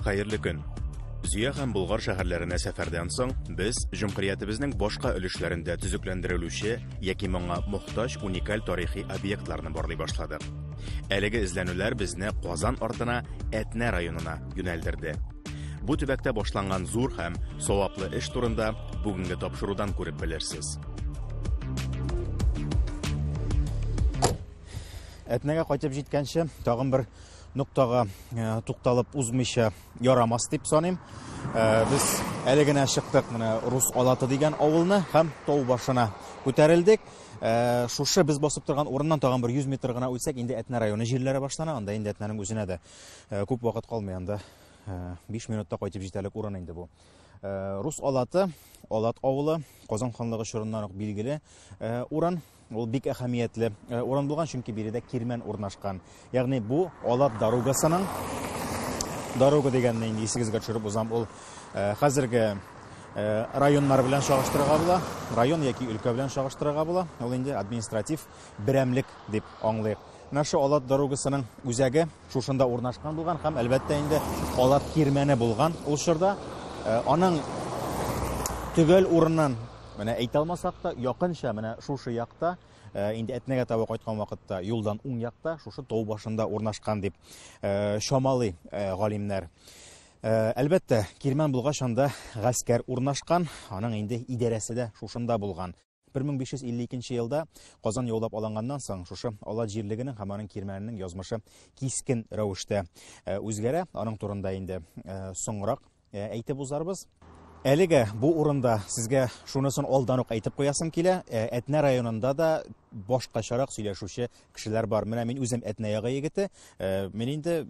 Хәерле көн. Зөя һәм Болгар шәһәрләренә сәфәрдән соң без җөмһүриятебезнең башка өлешләрендә төзекләндерелүче яки моңа мохтаҗ уникаль тарихи объектларны барлый башладык. Әлеге эзләнүләр безне Казан артына Әтнә районына юнәлдерде. Бу төбәктә башланган зур һәм саваплы эш турында бүгенге тапшырудан күреп белерсез. Әтнәгә кайтып җиткәнче тагын бер ноктага э, тукталып узмыйча ярамас дип саныйм. Э, без әле генә чыктык менә Рус Алаты дигән авылны һәм тау башына күтәрелдек. Э, шушы без басып торган урыннан тагын бер 100 метр гына үтсәк, инде Әтнә районы җирләре башлана, анда инде Әтнәнең үзенә дә Э, күп вакыт калмый анда. 5 э, минутта кайтып җитәрлек урын инде бу. Э, Рус Алаты, Алат авылы, Казан ханлыгы чорыннан ук билгеле урын. Ул бик әһәмиятле урын булган, чөнки биредә кирмән урнашкан. Ягъни бу Алат дорогасының дорога дигәнне инде исегезгә төшереп узам. Ул хәзерге районнар белән чагыштырырга була, район яки өлкә белән чагыштырырга була. Ул инде административ берәмлек дип аңлыйк. Менә шу Алат дорогасының үзәге шушында урнашкан булган һәм әлбәттә инде Алат кирмәне булган ул чорда. Э, аның төгәл урынын менә әйтә алмасак та, якынча менә шушы якта Э, инде әтнәгә таба кайткан вакытта юлдан уң якта шушы тау башында урнашкан дип э, чамалый э, галимнәр әлбәттә кирмән булгач анда гаскәр урнашкан аның инде идарәсе дә шушында булган Бер мең биш йөз илле икенче елда Казан яулап алынганнан соң, шушы Алат җирлегенең һәм аның кирмәненең язмышы кискен рәвештә э, үзгәрә. Аның турында инде э, соңрак э, әйтеп узарбыз. Әлегә бу урында сезгә шунысын алдан ук әйтеп куясым килә. Ә, Әтнә районында да башкачарак сөйләшүче кешеләр бар. Менә мин үзем Әтнә ягы егете. Ә, мин инде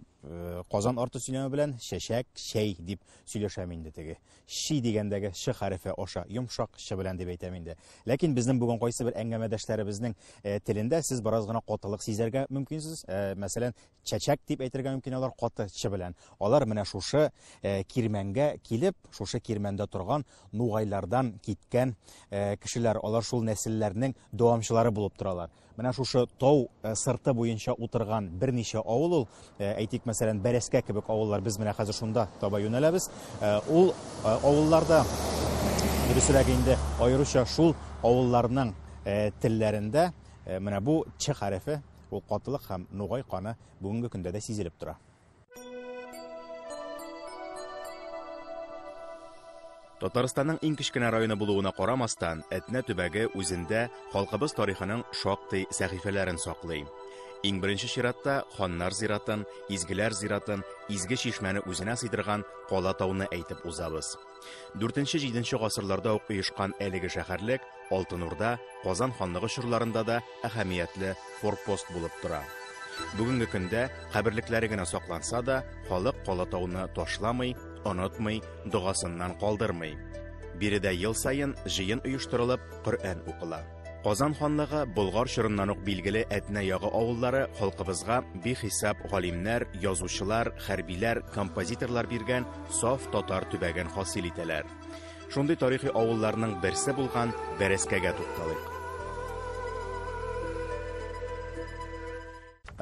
Казан арты сөйләме белән чәчәк, чәй дип сөйләшәм инде теге Чи дигәндәге Ч хәрефе аша, йомшак Ч белән дип әйтәм инде. Ләкин безнең бүген кайсы бер әңгәмәдәшләребезнең э, телендә сез бераз гына катылык сизәргә мөмкинсез. Э, мәсәлән, чәчәк дип әйтергә мөмкин алар каты Ч белән. Алар менә шушы э, кирмәнгә килеп, шушы кирмәндә торган нугайлардан киткән кешеләр, алар шул нәселләрнең дәвамчылары булып торалар. Менә шушы тау э, сырты буенча утырган берничә авыл ул, э, әйтик, мәсәлән, Бәрәскә кебек авыллар, без менә хәзер шунда таба юнәләбез. Э, ул авылларда дөресрәк инде аеруча шул авылларның телләрендә менә бу ч хәрефе, ул катылык һәм нугай каны бүгенге көндә дә сизелеп тора. Татарстанның иң кечкенә районы булуына карамастан, Әтнә төбәге үзендә халкыбыз тарихының шактый сәхифәләрен саклый. Иң беренче чиратта ханнар зиратын, изгеләр зиратын, изге чишмәне үзенә сыйдырган Кала тауны әйтеп узабыз. Дүртенче-җиденче гасырларда ук оешкан әлеге шәһәрлек Алтын Урда, Казан ханлыгы чорларында да әһәмиятле форпост булып тора. Бүгенге көндә каберлекләре генә сакланса да, халык Кала тауны ташламый, онытмый, догасыннан калдырмый. Биредә ел саен җыен оештырылып, Коръән укыла. Казан ханлыгы Болгар чорыннан ук билгеле Әтнә ягы авыллары халкыбызга бихисап галимнәр, язучылар, хәрбиләр, композиторлар биргән саф татар төбәген хасил итәләр. Шундый тарихи авылларның берсе булган Бәрәскәгә тукталыйк.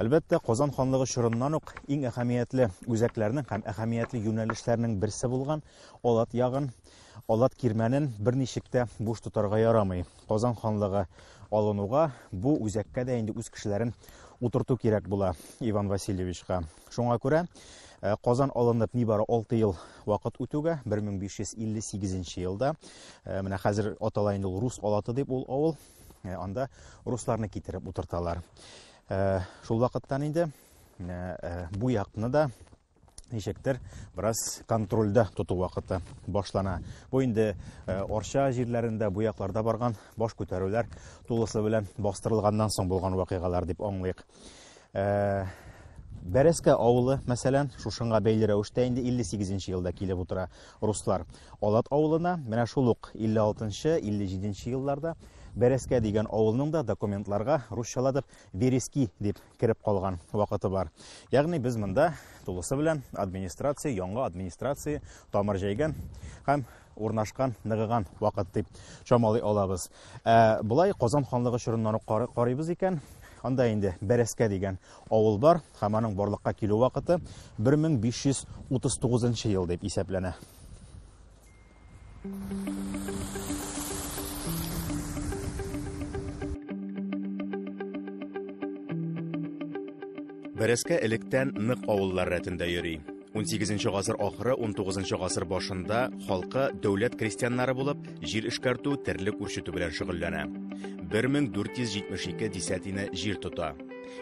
Әлбәттә, Казан ханлыгы чорыннан ук иң әһәмиятле үзәкләрнең һәм әһәмиятле юнәлешләрнең берсе булган Алат ягын Алат кирмәнен берничек тә буш тотарга ярамый. Казан ханлыгы алынуга бу үзәккә дә инде үз кешеләрен утырту кирәк була Иван Васильевичка. Шуңа күрә Э, Казан алынып нибары 6 ел вакыт үтүгә 1558 елда э, менә хәзер атала инде ул рус алаты дип ул авыл э, анда русларны китереп утырталар. Шул вакыттан инде бу якны да ничектер бераз контрольдә тоту вакыты башлана. Бу инде э, Орча җирләрендә, бу якларда барган баш күтәрүләр тулысы белән бастырылганнан соң булган вакыйгалар дип аңлыйк. Э, Бәрәскә авылы, мәсәлән, шушыңа бәйле рәвештә инде 58 елда килеп утыра руслар. Алат авылына менә шул ук 56-57 елларда Бәрәскә дигән авылның да документларга русчаладып Верески дип кереп калган вакыты бар. Ягъни без монда тулысы белән администрация, яңа администрация тамыр җәйгән һәм урнашкан, ныгыган вакыт дип чамалый алабыз. Ә болай Казан ханлыгы чорыннан ук карыйбыз икән, анда инде Бәрәскә дигән авыл бар һәм аның барлыкка килү вакыты 1539 ел дип исәпләнә. Бәрәскә электән нык авыллар рәтендә йөри. 18 гасыр ахыры 19 гасыр башында халкы дәүләт крестьяннары булып, җир эшкәртү, терлек үрчетү белән шөгыльләнә. 1472 десятина җир тота.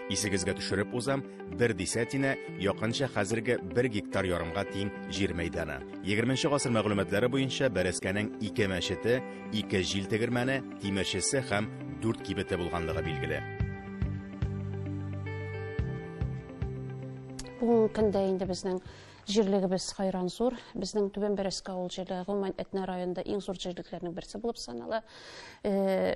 Исегезгә төшереп узам, бер десятина, якынча хәзерге бер гектар ярымга тиң җир мәйданы. 20 нче гасыр мәгълүматлары буенча Бәрәскәнең ике мәчете, ике җил тегермәне, тимерчесе һәм дүрт кибете булганлыгы билгеле. Бүгенге көндә инде безнең җирлегебез хайран зур. Безнең Түбән Бәрәскә авыл җирлеге гомумән Әтнә районында иң зур җирлекләрнең берсе булып санала. Э,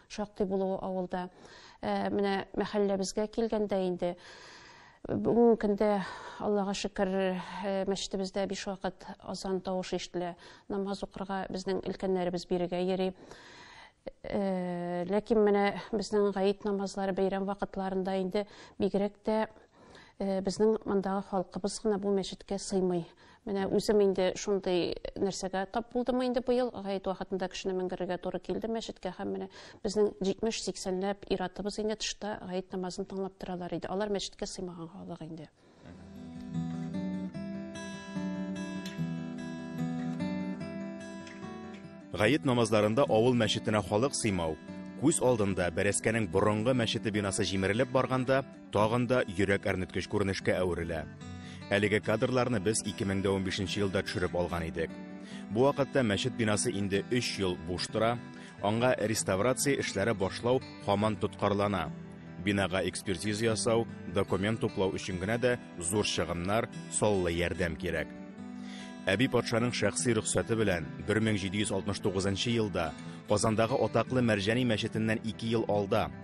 Шактый булуы авылда. Ә, менә мәхәлләбезгә килгәндә инде бүгенге көндә аллага шөкер э, мәчетебездә биш вакыт азан тавышы ишетелә намаз укырга безнең өлкәннәребез бирегә йөри э, ләкин менә безнең гаит намазлары бәйрәм вакытларында инде бигрәк тә э, безнең мондагы халкыбыз гына бу мәчеткә сыймый Менә үзем инде шундый нәрсәгә тап булдымы инде быел, гает вакытында кешене менгерергә туры килде мәчеткә һәм менә безнең 70-80 ләп иратыбыз инде тышта гает намазын тыңлап торалар иде. Алар мәчеткә сыймаган халык инде. Гает намазларында авыл мәчетенә халык сыймау, күз алдында бәрәскәнең борынгы мәчете бинасы җимерелеп барганда, тагын да йөрәк әрнеткеч күренешкә әверелә. Әлеге кадрларны без 2015 елда төшереп алган идек. Бу вакытта мәчет бинасы инде 3 ел буш тора, аңа реставрация эшләре башлау һаман тоткарлана. Бинага экспертиза ясау, документ туплау өчен генә дә зур чыгымнар, саллы ярдәм кирәк. Әби патшаның шәхси рөхсәте белән 1769 елда Казандагы атаклы Мәрҗани мәчетеннән 2 ел алда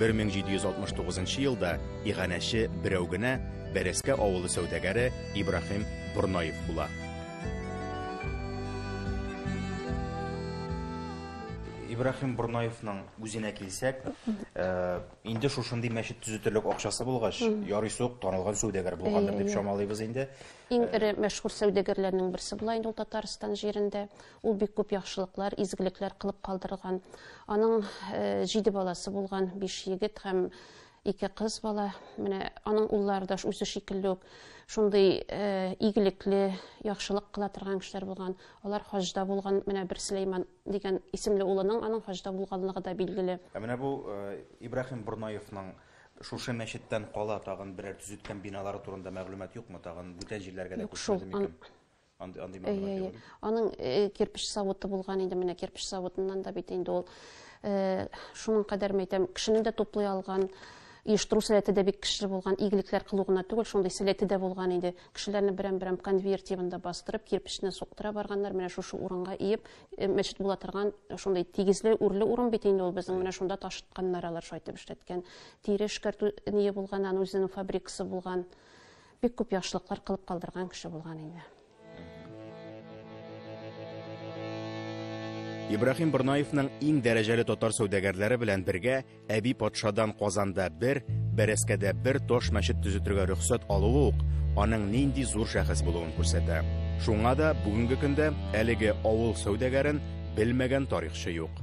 1769 нчы елда иганәче берәү генә Бәрәскә авылы сәүдәгәре Ибраһим Борнаев була. Ибраһим Борнаевның үзенә килсәк, э, инде шушындый мәчет төзетерлек акчасы булгач, ярый сук танылган сәүдәгәр булгандыр дип чамалыйбыз инде. Иң эре мәшһүр сәүдәгәрләрнең берсе була инде ул Татарстан җирендә. Ул бик күп яхшылыклар, изгелекләр кылып калдырган. Аның җиде баласы булган, биш егет һәм ике кыз бала. Менә аның уллары да үзе шикелле үк шундый э, игелекле, яхшылык кыла торган кешеләр булган. Алар хаҗда булган, менә бер Сөләйман дигән исемле улының аның хаҗда булганлыгы да билгеле. Ә менә бу э, Ибраһим Бурнаевның шушы мәчеттән кала тагын берәр төзеткән биналары турында мәгълүмат юкмы? Тагын бүтән җирләргә дә күчмәде микән? Андый андый мәгълүмат Әйе, юк. әйе. Аның э, кирпеч заводы булган иде, менә кирпеч заводыннан да бит инде ул э, шуның кадәр мәйтәм, кешене дә туплый алган, оештыру сәләте дә бик көчле булган, игелекләр кылу гына түгел, шундый сәләте дә булган иде. Кешеләрне берәм-берәм конвейер тибында бастырып, кирпечне суктыра барганнар, менә шушы урынга иеп, э, мәчет була торган шундый тигезле, үрле урын бит инде ул безнең, менә шунда ташытканнар алар, шайтып эшләткән. Тире эшкәртү ние булган, аның үзенең фабрикасы булган. Бик күп яхшылыклар кылып калдырган кеше булган инде. Ибрахим Борнаевның иң дәрәҗәле татар сәүдәгәрләре белән бергә әби патшадан Казанда бер, Бәрәскәдә бер таш мәчет төзетергә рөхсәт алуы ук аның нинди зур шәхес булуын күрсәтә. Шуңа да бүгенге көндә әлеге авыл сәүдәгәрен белмәгән тарихчы юк.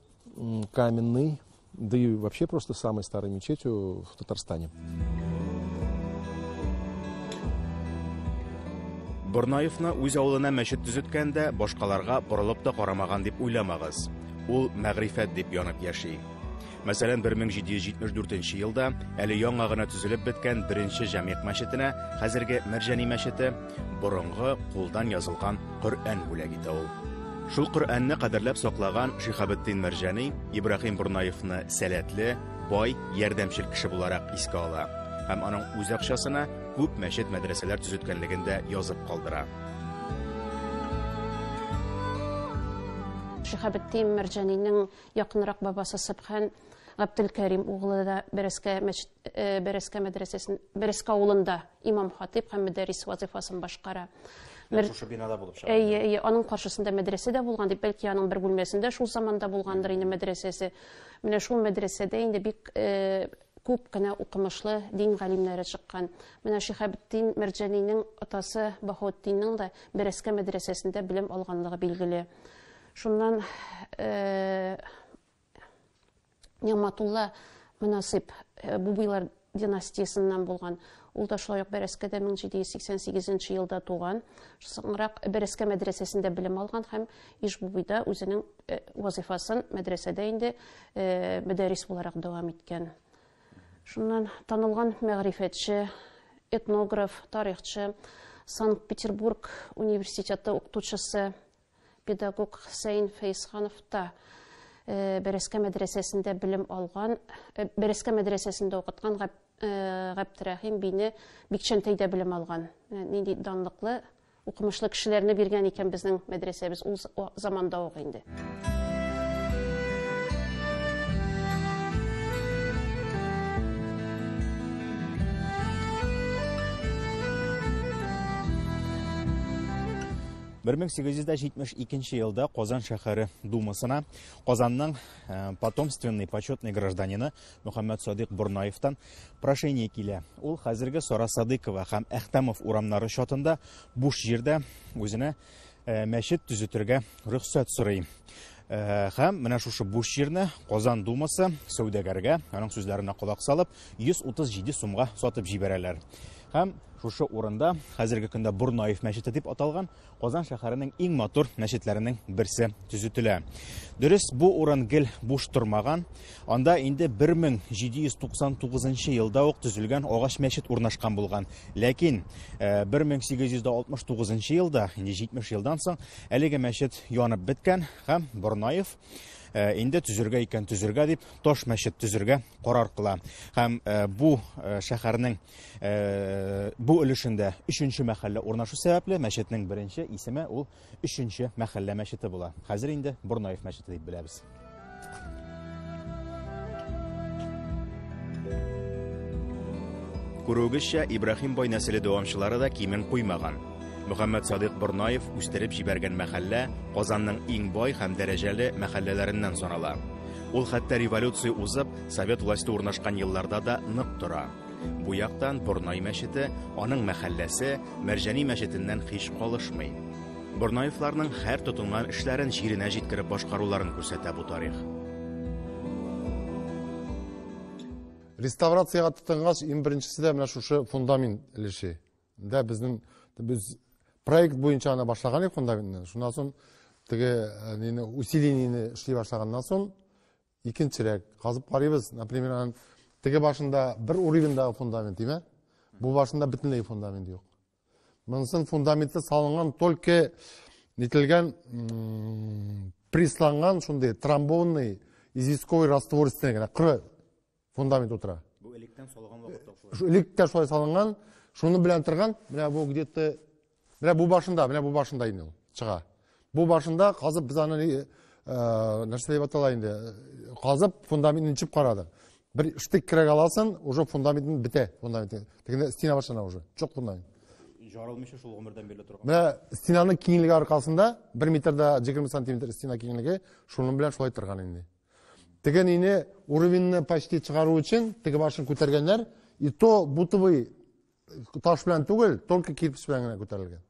Каменный, да и вообще просто самой старой мечетью в Татарстане. Борнаевны үз авылына мәчет төзеткәндә башкаларга борылып та карамаган дип уйламагыз. Ул мәгрифәт дип янып яши. Мәсәлән, 1774 елда әле яңа гына төзелеп беткән беренче җәмигъ мәчетенә, хәзерге Мәрҗани мәчете, Борынгы кулдан язылган Коръән бүләк итә ул. Шул Коръәнне кадерләп саклаган Шихабетдин Мәрҗани Ибраһим Бурнаевны сәләтле, бай, ярдәмчел кеше буларак искә ала һәм аның үз акчасына күп мәчет-мәдрәсәләр төзеткәнлеген дә язып калдыра. Шихабетдин Мәрҗанинең якынрак бабасы Сөбхан Габделкәрим углы да Бәрәскә мәчет Э, Берескә мәдрәсәсен, Берескә авылында имам хатип һәм мөдәррис вазифасын башкара. Шушы бинада булып чыга. Әйе, әйе, аның каршысында мәдрәсә дә булган дип, бәлки аның бер бүлмәсендә шул заманда булгандыр инде мәдрәсәсе. Менә шул мәдрәсәдә инде бик э, күп кенә укымышлы дин галимнәре чыккан. Менә Шихабетдин Мәрҗәнинең атасы Баһаутдинның да Берескә мәдрәсәсендә белем алганлыгы билгеле. Шуннан э, Нигъматулла Мөнасыйп э, Бубыйлар династиясеннән булган. Ул да шулай ук Бәрәскәдә 1788 елда туган. Соңрак Бәрәскә мәдрәсәсендә белем алган һәм Ишбубыйда үзенең э, вазифасын мәдрәсәдә инде э, мөдәррис буларак дәвам иткән. Шуннан танылган мәгърифәтче, этнограф, тарихчы, Санкт-Петербург университеты укытучысы Педагог Хөсәен Фәйсханов та Бәрәскә мәдрәсәсендә белем алган, Бәрәскә мәдрәсәсендә укыткан Габдрәхим бине Бикчәнтәйдә белем алган. Нинди данлыклы, укымышлы кешеләрне биргән икән безнең мәдрәсәбез ул заманда ук инде. Бер мең сигез йөз дә җитмеш икенче елда Казан шәһәре думасына Казанның э, потомственный почетный гражданины Мөхәммәд Садыйк Борнаевтан прошение килә. Ул хәзерге Сара Садыкова һәм Әхтәмов урамнары чатында буш җирдә үзенә э, мәчет төзетергә рөхсәт сорый. Э, һәм менә шушы буш җирне Казан думасы сәүдәгәргә, аның сүзләренә колак салып, 137 сумга сатып җибәрәләр. Һәм шушы урында, хәзерге көндә Борнаев мәчете дип аталган, Казан шәһәренең иң матур мәчетләренең берсе төзетелә. Дөрес, бу урын гел буш тормаган. Анда инде 1799 елда ук төзелгән агач мәчет урнашкан булган. Ләкин 1869 э, елда, инде 70 елдан соң, әлеге мәчет янып беткән һәм Борнаев Э, инде төзергә икән төзергә дип таш мәчет төзергә карар кыла һәм э, бу э, шәһәрнең бу өлешендә өченче мәхәллә урнашу сәбәпле мәчетнең беренче исеме ул өченче мәхәллә мәчете була хәзер инде борнаев мәчете дип беләбез күрүегезчә ибраһим бай нәселе дәвамчылары да кимен куймаган Мөхәммәд Садыйк Борнаев үстереп җибәргән мәхәллә Казанның иң бай һәм дәрәҗәле мәхәлләләреннән санала. Ул хәтта революция узып, совет власте урнашкан елларда да нык тора. Бу яктан Борнай мәчете, аның мәхәлләсе Мәрҗани мәчетеннән һич калышмый. Борнаевларның һәр тотынган эшләрен җиренә җиткереп башкаруларын күрсәтә бу тарих. Реставрациягә тотынгач, иң беренчесе дә менә шушы фундамент өлеше. Дә безнең без проект буенча аны башлаган идек фундаментны. Шуннан соң теге э, нины усилениене эшли башлаганнан соң Икенчерәк казып карыйбыз, например, анын теге башында бер уровеньдагы фундамент димә, бу башында бөтенләй фундамент юк. Монысын фундаменты салынган только нителгән присланган шундый трамбонный известковый раствор өстенә генә коры фундамент утыра бу электән салган вакытта э, электә шулай салынган шуны белән торган менә бу где то менә бу башында менә бу башында инде ул чыга бу башында казып без аны э, нәрсә дип атала инде э, казып фундаментын чып карадык бер штык кирәк аласың уже фундаментын бетә фундамент тегенде стена башлана уже чок фундамент жарылмыйча шул гомердән бирелә торган менә стенаның киңлеге аркасында бер метрда егерме сантиметр стена киңлеге шуның белән шулай торган инде Теге нине уровеньны почти чыгару өчен теге башын күтәргәннәр. И то бутовый э, таш белән түгел, только кирпич белән генә күтәрелгән.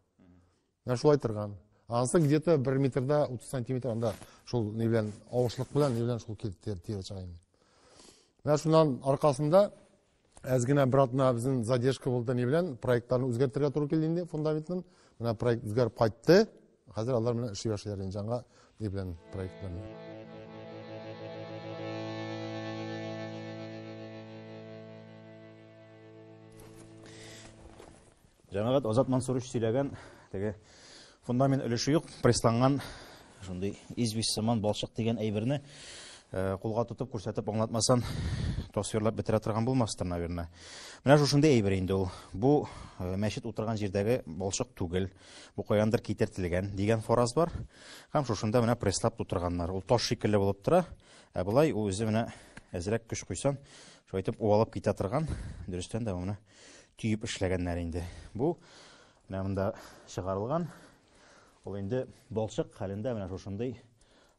Менә шулай торган. Анысы где-то 1 метрда 30 сантиметр анда шул ни белән авышлык белән ни белән шул киртер тирә чыга инде. Менә шуннан аркасында Әз генә бер атна безнең задержка булды ни белән, проектларны үзгәртергә туры килде инде фундаментын. Менә проект үзгәреп кайтты. Хәзер алар менә эшли башлыйлар инде жаңа ни белән проектларны. Җәмәгать Азат Мансурович сөйләгән теге фундамент өлеше юк, прессланган шундый известь сыман балчык дигән әйберне э, кулга тотып күрсәтеп аңлатмасан тасвирлап бетерә торган булмастыр, наверное. Менә шушындый әйбер инде ул. Бу э, мәчет утырган җирдәге балчык түгел, бу каяндыр китертелгән дигән фораз бар. Һәм шушында менә пресслап тутырганнар. Ул таш шикелле булып тора. Ә былай ул үзе менә әзрәк көч куйсан, шулайтып уалып китә торган. Дөрестән дә менә төеп эшләгәннәр инде. Бу менә монда чыгарылган. Ул инде балчык хәлендә менә шушындый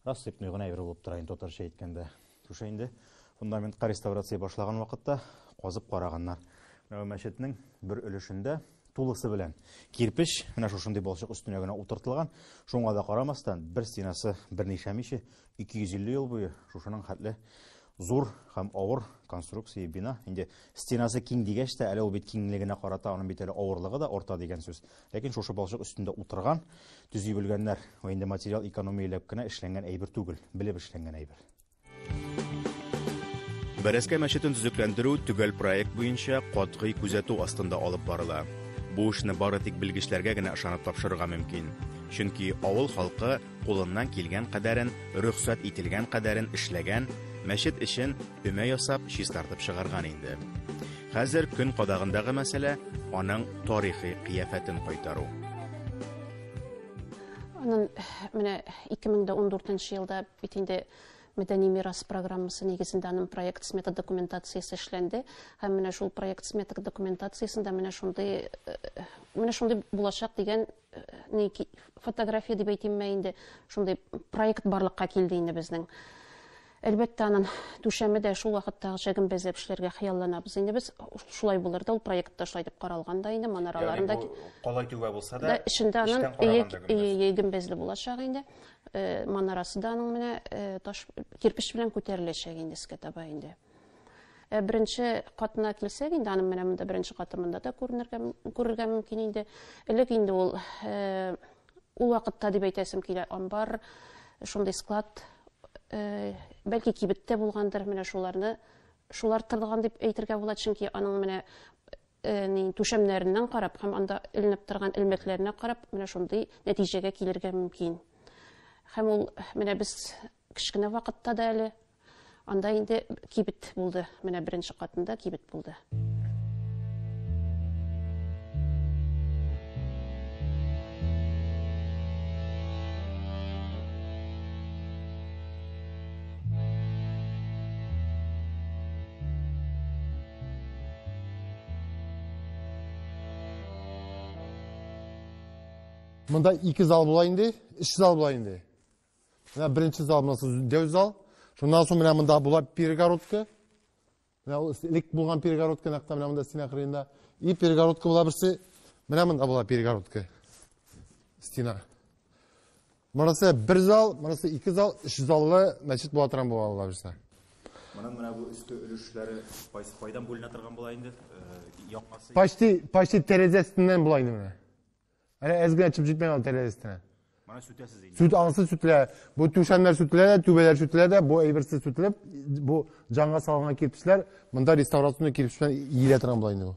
рассыпной гына әйбер булып тора инде татарча әйткәндә. Шушы инде фундаментка реставрация башлаган вакытта казып караганнар. Менә мәчетнең бер өлешендә тулысы белән кирпич менә шушындый балчык өстенә генә утыртылган. Шуңа да карамастан, бер стенасы берничә миче 250 ел буе шушының хәтле Зур һәм авыр конструкция бина. Инде стенасы киң дигәч тә, әле ул бит киңлегенә карата, аның бит әле авырлыгы да арта дигән сүз. Ләкин шушы балчык өстендә утырган, төзи белгәннәр. Ул инде материал экономияләп кенә эшләнгән әйбер түгел, белеп эшләнгән әйбер. Бәрәскә мәчетен төзекләндерү төгәл проект буенча катгый күзәтү астында алып барыла. Бу эшне бары тик белгечләргә генә ышанып тапшырырга мөмкин. Чөнки авыл халкы кулыннан килгән кадәрен, рөхсәт ителгән кадәрен эшләгән, мәчет эчен өмә ясап, чистартып чыгарган инде. Хәзер көн кадагындагы мәсьәлә аның тарихи кыяфәтен кайтару. Анын менә 2014 елда бит инде мәдәни мирас программасы нигезендә аның проект смета документациясе эшләнде һәм менә шул проект смета документациясендә менә шундый э, менә шундый булачак дигән Э, фотография дип әйтимме инде шундый проект барлыкка килде инде безнең әлбәттә анын түшәме дә шул вакыттагыча гөмбәзләп эшләргә хыялланабыз инде без шулай булыр да ул проект та шулай дип каралган да инде манараларын да калай түбә булса да эчендә анын ие гөмбәзле булачак инде э, манарасы да аның менә э, таш кирпеч белән күтәреләчәк инде искә таба инде Ә беренче катына килсәк, инде аның менә монда беренче каты монда да күренергә күрергә мөмкин инде. Элек инде ул э, ул вакытта дип әйтәсем килә, амбар, шундый склад э, бәлки кибеттә булгандыр, менә шуларны шулар тырган дип әйтергә була, чөнки аның менә э, ни түшәмнәреннән карап һәм анда эленеп торган элмәкләренә карап, менә шундый нәтиҗәгә килергә мөмкин. Һәм ул менә без кечкенә вакытта да әле Анда инде кибет булды. Менә беренче катында кибет булды. мында ике зал була инде, өч зал була инде. Менә беренче зал, монысы дәү зал. Шуннан соң менә монда була перегородка. Менә ул элек булган перегородка, нәкътә менә монда стена кырыенда. И перегородка була берсе. Менә монда була перегородка. Стена. Монысы бер зал, монысы ике зал, өч заллы мәчет була торган була алла бирсә. Моның менә бу өске өлешләре кайсы кайдан бүленә торган була инде? Э, Яңасы. Почти почти тәрәзәсеннән була инде менә. Әнә әз генә чып җитмәгән ул тәрәз өстенә. Моны сүтәсез инде. Сүт ансы сүтелә. Бу түшәмнәр сүтелә дә, түбәләр сүтелә дә, бу әйберсез сүтелеп, бу җанга салынган кирпечләр, монда реставрационный кирпеч белән иелә торган була инде бу.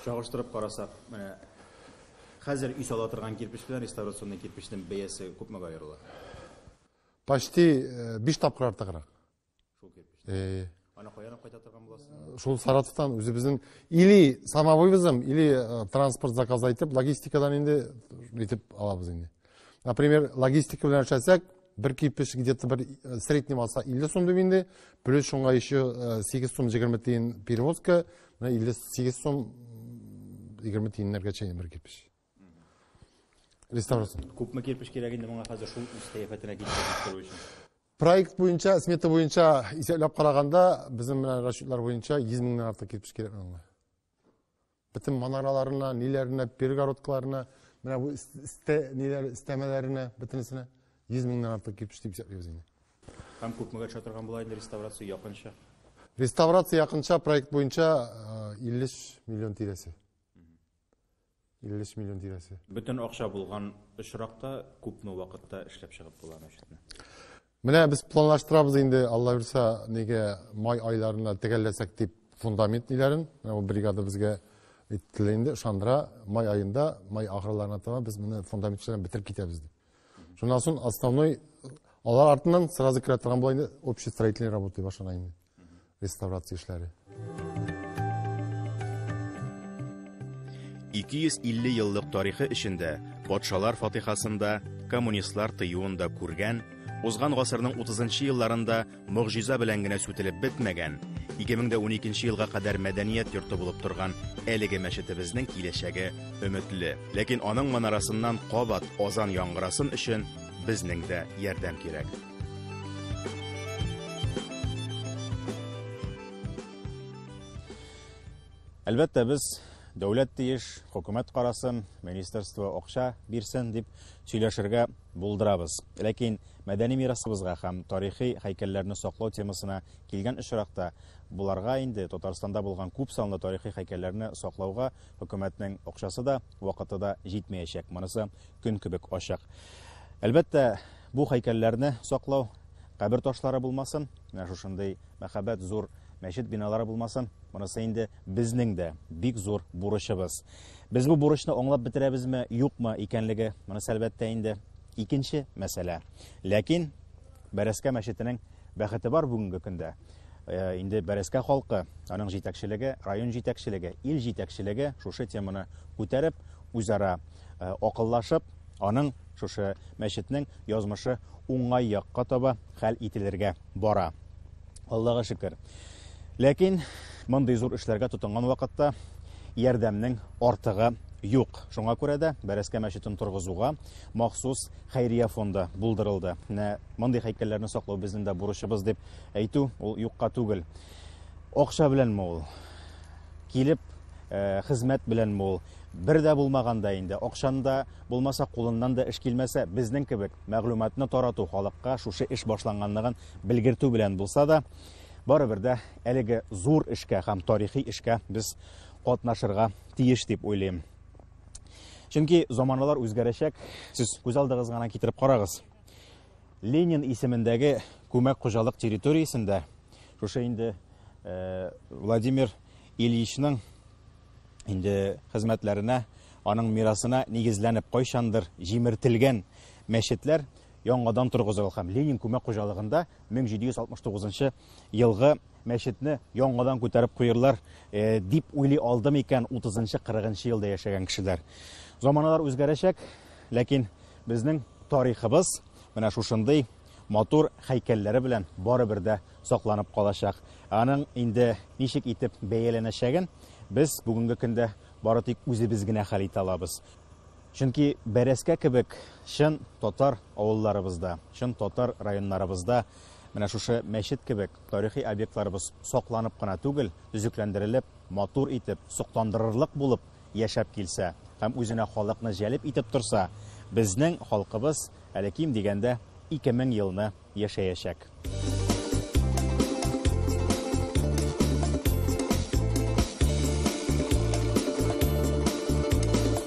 Чагыштырып карасак, менә хәзер өй сала торган кирпеч белән реставрационный кирпечнең бәясе күпмегә аерыла? Почти 5 э, тапкыр артыграк. Э, Ана каян кайта торган буласың? Шул Саратовтан үзебезнең или самовывозом, или э, транспорт заказ итеп, логистикадан инде итеп алабыз инде. Например, логистика белән эшләсәк, бер кипеш где-то бер э, средний маса 50 сум дип инде, плюс шуңа еще 8 сум 20 тиен перевозка, 58 сум 20 тиеннәргә чейин бер кипеш. Реставрация. Күпме кирпич кирәк инде моңа хәзер шул үз сәяхәтенә китереп тору өчен? Проект буенча, смета буенча исәпләп караганда, безнең менә расчетлар буенча 100 меңнән артык кирпеч кирәк аңа. Бөтен манараларына, ниләренә, перегородкаларына, менә бу истә ниләр истәмәләренә, бөтенесенә 100 меңнән артык кирпеч дип исәплибез инде. Һәм күпмегә төшә торган була инде реставрация якынча? Реставрация якынча проект буенча 50 миллион тирәсе. 53 миллион тирәсе. Бөтен акча булган очракта күпме вакытта эшләп чыгып була мәчетне? Менә без планлаштырабыз инде, Алла бирсә, нигә май айларына төгәлләсәк дип фундамент ниләрен, бу бригада безгә әйттеләр инде, ышандыра, май аенда, май ахырларына таба без моны фундамент эшләрен бетереп китәбез дип. Шуннан соң основной алар артыннан сразу керә торган була инде общий строительный работа башлана инде. реставрация эшләре. 250 еллык тарихы эчендә патшалар фатихасында коммунистлар тыюын да күргән, узган гасырның 30 елларында могҗиза белән генә сүтелеп бетмәгән, 2012 елга кадәр мәдәният йорты булып торган әлеге мәчетебезнең киләчәге өметле. Ләкин аның манарасыннан кабат азан яңгырасын өчен безнең дә ярдәм кирәк. Әлбәттә, без дәүләт тиеш, хөкүмәт карасын, министерство акча бирсен дип сөйләшергә булдырабыз. Ләкин мәдәни мирасыбызга һәм тарихи һәйкәлләрне саклау темасына килгән очракта, буларга инде Татарстанда булган күп санлы тарихи һәйкәлләрне саклауга Хөкүмәтнең акчасы да, вакыты да җитмәячәк, монысы көн кебек ачык. Әлбәттә, бу һәйкәлләрне саклау, кабер ташлары булмасын, менә шушындый мәхәббәт зур мәчет биналары булмасын, монысы инде безнең дә бик зур бурычыбыз. Без бу бурычны аңлап бетерәбезме, юкмы икәнлеге, монысы әлбәттә инде икенче мәсьәлә. Ләкин Бәрәскә мәчетенең Бәхете бар бүгенге көндә э, инде Бәрәскә халкы, аның җитәкчелеге, район җитәкчелеге, ил җитәкчелеге шушы теманы күтәреп, үзара э, акыллашып, аның шушы мәчетнең язмышы уңай якка таба хәл ителергә бара. Аллага шөкер. Ләкин мондый зур эшләргә тотынган вакытта ярдәмнең артыгы юк. Шуңа күрә дә Бәрәскә мәчетен торгызуга махсус хәйрия фонды булдырылды. Менә мондый һәйкәлләрне саклау безнең дә бурычыбыз дип әйтү ул юкка түгел. Акча беләнме ул? Килеп э, хезмәт беләнме ул? Бер дә булмаганда инде, акчанда булмаса, кулыннан да эш килмәсә, безнең кебек мәгълүматны тарату халыкка шушы эш башланганлыгын белгертү белән булса да, барыбер дә әлеге зур эшкә һәм тарихи эшкә без катнашырга тиеш дип уйлыйм. Чөнки заманалар үзгәрәчәк. Сез күз алдыгыз гына китереп карагыз. Ленин исемендәге күмәк хуҗалык территориясендә шушы инде э, Владимир Ильичның инде хезмәтләренә, аның мирасына нигезләнеп кайчандыр җимертелгән мәчетләр яңадан торгызылган һәм Ленин күмәк хуҗалыгында 1769 елгы мәчетне яңадан күтәреп куерлар э, дип уйлый алды микән 30-40 елда яшәгән кешеләр. Заманалар үзгәрәчәк, ләкин безнең тарихыбыз менә шушындый матур хәйкәлләре белән барыбер дә сакланып калачак. Аның инде ничек итеп бәяләнәчәген без бүгенге көндә бары тик үзебез генә хәл итә алабыз. Чөнки бәрәскә кебек чын татар авылларыбызда, чын татар районнарыбызда менә шушы мәчет кебек Тарихи объектларыбыз сакланып кына түгел, төзекләндерелеп, матур итеп, сокландырырлык булып яшәп килсә һәм үзенә халыкны җәлеп итеп торса, безнең халкыбыз әле ким дигәндә 2000 елны яшәячәк.